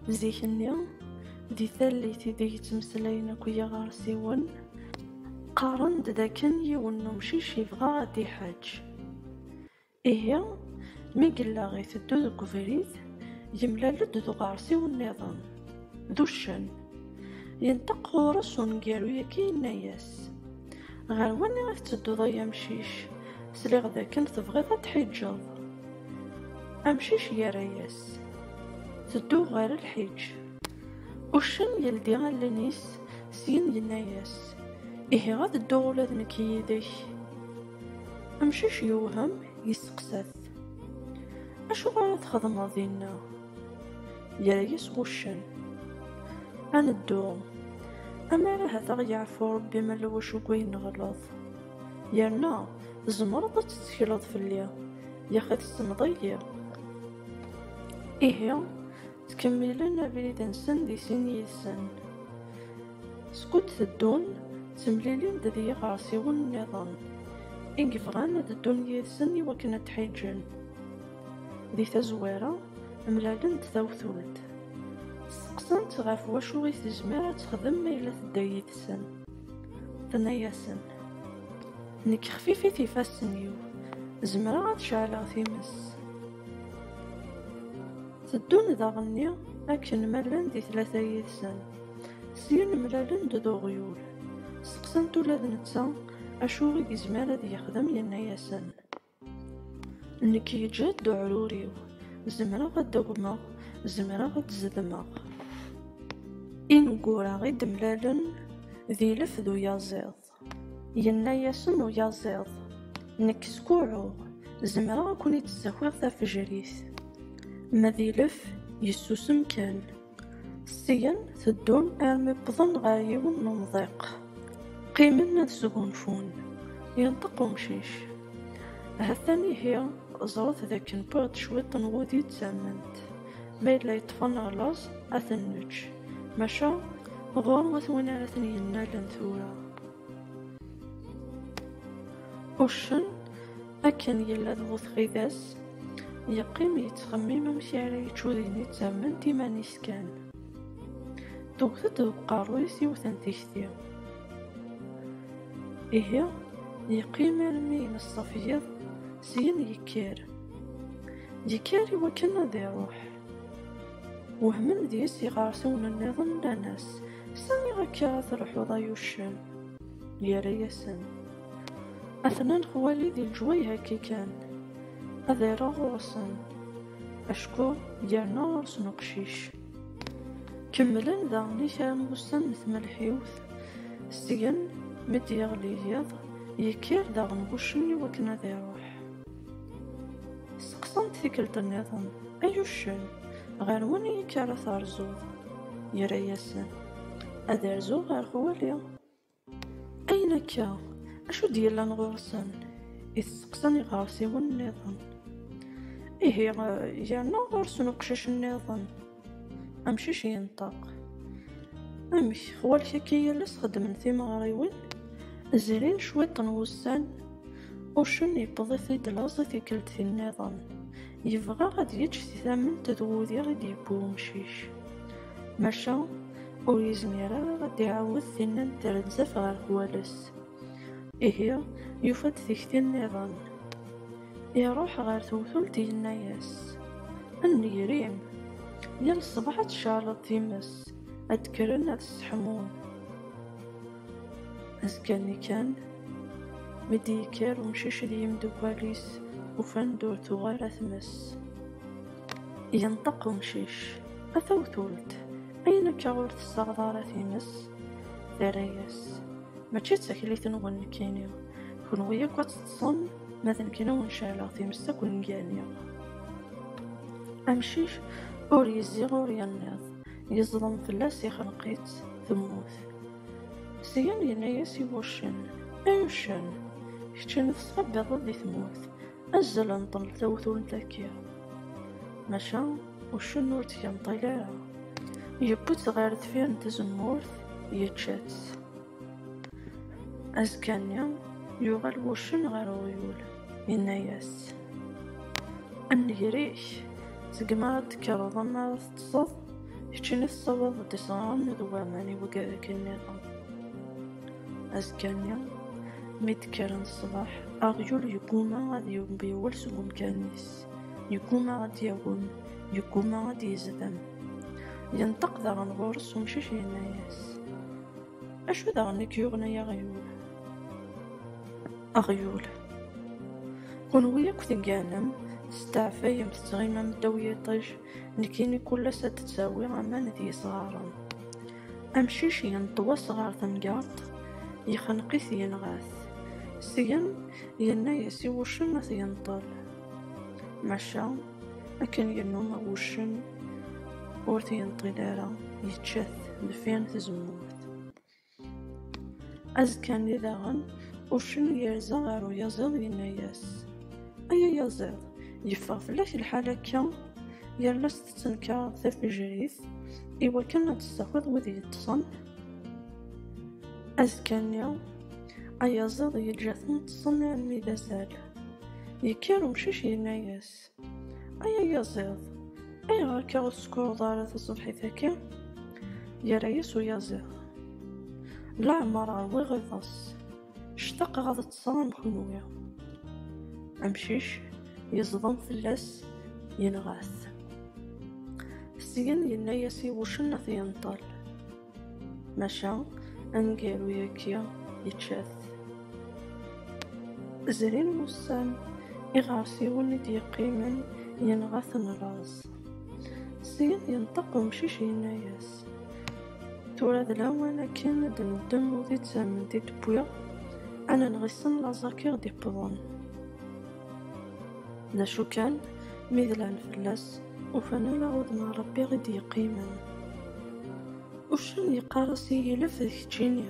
Zik-nni, di tallit ideg ttmeslayen akk yiɣersiwen, qqaren-d dakken yiwen n umcic yebɣa ad d-iḥeǧǧ. Ihi, mi yella iteddu deg ubrid, yemlal-d d uɣersiw nniḍen, d uccen. Yenṭeq ɣur-s uneggaru-yagi yenna-as, Ɣer wani i tettedduḍ ay amcic, sliɣ dakken tebɣiḍ ad d-tḥiǧǧeḍ? Amcic yerra-yas, tedduɣ ɣer lḥiǧ. Uccen yeldi allen-is, syin yenna-yas, ihi ad dduɣ ula d nekk yid-k. Amcic yewhem, yesteqsa-t, acuɣer ara txedmeḍ dinna? Yerra-yas wuccen, ad neddu, amar ahat ad ɣ-yeɛfu Rebbi ma lewc deg wayen neɣleḍ. Yerna tzemreḍ ad tettekleḍ fell-i, yaxi tessneḍ-iyi. Ihi, ttkemmilen abrid-nsen di sin yid-sen. Skud teddun, ttemlilin-d d yiɣersiwen nniḍen, i yebɣan ad ddun yid-sen i wakken ad d-ḥiǧen. Di tazwara, mlalen-d tawtult. Steqsan-tt ɣef wacu i tezmer ad texdem ma yella tedda yid-sen. Tenna-yasen, Nekk xfifit ifassen-iw, zemreɣ ad ceɛleɣ times. Teddun daɣenni akken ma llan di tlata yid-sen. Syin mlalen-d d uɣyul. Steqsan-t ula d netta acu i yezmer ad yexdem, yenna-yasen, Nekk yeǧǧa-d uɛrur-iw, zemreɣ ad d-agmeɣ, zemreɣ ad d-zedmeɣ. Ineggura i d-mlalen d ilef d uyaziḍ. Yenna-yasen uyaziḍ, Nekk skuɛɛuɣ, zemreɣ ad ken-id-ssakiɣ tafejrit. Ma d ilef, yessusem kan. Syen teddun armi wwḍen ɣer yiwen n umḍiq. Qqimen ad sgunfun. Yenṭeq umcic. Ha-t-an ihi, ẓret d akken wwiɣ-d cwiṭ n wudi d tament. Ma yella yeṭṭef-aɣ laẓ, ad ten-nečč. Maca, ɣur-wet win ara ten-yennalen tura. Uccen. Akken yella d bu txidas, yeqqim yettxemmim amek ara yečč udin i ttamen d iman-is kan. Tewwet-d deg uqerru-is yiwet n tikti. Ihi, yeqqim armi ineṣṣaf yiḍ, syin yekker. Yekker i wakken ad iruḥ. Wehmen deg-s iɣersiwen nniḍen nnan-as, Sani akka ara truḥeḍ ay uccen? Yerra-yasen. Atnan xwali di leǧwayeh akka kan, ad iruɣ ɣur-sen, acku yerna ɣur-sen uqcic. Kemmlen daɣen i kra n wussan n tmelḥiwt, seg-n mi d-yeɣli yiḍ, yekkir daɣen wuccen i wakken ad iruḥ. Seqsan-t tikkelt nniḍen, Ay uccen, ɣer waniyik ara terzuḍ? Yerra-yasen, Ad rzuɣ ɣer xwali. Ayen akka, acu d-yellan ɣur-sen? I testeqsan iɣersiwen nniḍen. Ihi, yerna ɣur-sen uqcic nniḍen. Amcic yenṭeq. Amek, xwalek akka yal ass xeddmen timeɣriwin? Zrin cwiṭ n wussan, uccen yewweḍ-it-id laẓ i tikkelt-nniḍen. Yebɣa ad d-yeǧǧ si tament d wudi i d-yewwi umcic. Maca ur yezmir ara ad d-iɛawed tinna n trenzat ɣer Kowales. Ihi yufa-d tikti nniḍen. Iruḥ ɣer tewtult yenna-yas, A nnger-im, yal ṣṣbeḥ ad tcerreḍ times, ad d-kkren ad sseḥmun. Azekka-nni kan, mi d-yekker umcic d yimdukal-is, ufan-d ur tuɣ ara tmes. Yenṭeq umcic, A tawtult, ayen akka ur tessaɣeḍ ara times? Terra-yas, Mačči d taklit-nwen nekkini, kenwi akk ad teṭṭṣem, ma d nekkini ur necɛleɣ times akk nngani. Amcic ur yezzi ur yenniḍ, yeẓḍem fell-as, ixneq-itt, temmut. Syin yenna-yas i wuccen, Ay uccen, kečč n tettqabbiḍeḍ di tmurt, azzel n ṭṭel tawtult akka. Maca uccen ur tt-yenṭil ara, yewwi-tt ɣer deffir n tzemmurt, yečča-tt. Azekka-nni, yuɣal wuccen ɣer uɣyul, yenna-yas, A nnger-ik, seg mi ara d-tekkreḍ, ma Teṭṣeḍ, keččini tessawaḍ d iṣran d waman i wegrak-nniḍen. Azekka-nni, mi d-kkren ṣṣbeḥ, aɣyul yegguma ad yewwel seg umkan-is, yegguma ad d-yawem, yegguma ad d-yezdem. Yenṭeq daɣen ɣur-s umcic yenna-yas, Acu daɣen i k-yuɣen ay aɣyul? Aɣyul, Kenwi akk tegganem, testeɛfayem, tettɣimam ddaw yiṭij, Nekini kullas ad d-tawi aman d yesɣaren. Amcic yenṭewas ɣer temgerḍt, yexneq-it yenɣa-t. Syen yenna-yas i wuccen ad t-yenṭel. Maca akken yennuma wuccen ur t-yenṭil ara, yečča-t deffir n tzemmurt. Azekka-nni daɣen, uccen yerza ɣer uyaziḍ yenna-yas, Ay ayaziḍ, yeffeɣ fell-ak lḥal akka? Yal ass tettenkareḍ tafejrit i wakken ad tessakiḍ wid yeṭṭsen? Azekka-nni, ayaziḍ yeǧǧa-ten ṭṭsen armi d azal. Yekker umcic yenna-yas, Ay ayaziḍ, ayɣer akka ur tsekruḍ ara taṣebḥit-agi? Yerra-yas uyaziḍ, Leɛmer ṛwiɣ iḍes, ctaqeɣ ad ṭṭseɣ am kenwi. Amcic yeẓḍem fell-as, yenɣa-t. Syen yenna-yas i wuccen ad t-yenṭel. maca aneggaru yagi yečča-t. Zrin wussan, iɣersiwen i d-yeqqimen yenɣa-ten laẓ. Syin yenṭeq umcic yenna-yas, Tura d lawan akken ad neddem udi d tamemt i d-wwiɣ, ad nenɣ issen laẓ-agi ɣ-d-iqḍen. D acu kan, mi dlan fell-as, ufan ala udem Ṛebbi i d-yeqqimen. Uccen yeqqar-as i yilef d keččini,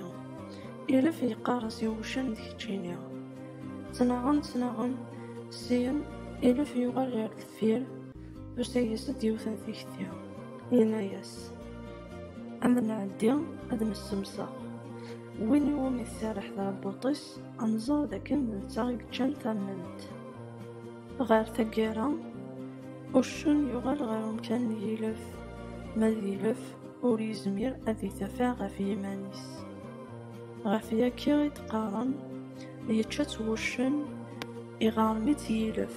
ilef yeqqar-as i wuccen d keččini. Ttnaɣen, ttnaɣen, syin ilef yuɣal ɣer deffir, tusa-yas-d yiwet n tikti, yenna-yas, Ad nɛeddi ad nessemseɣ, win iwumi tserreḥ tɛebbuṭ-is, Anẓar d akken d netta i yeččan tamment. Ɣer taggara, uccen yuɣal ɣer umkan n yilef, ma d ilef ur yezmir ad yetafeɛ ɣef yiman-is. Ɣef yaki i d-qqaren, yečča-tt wuccen, iɣarem-itt yilef.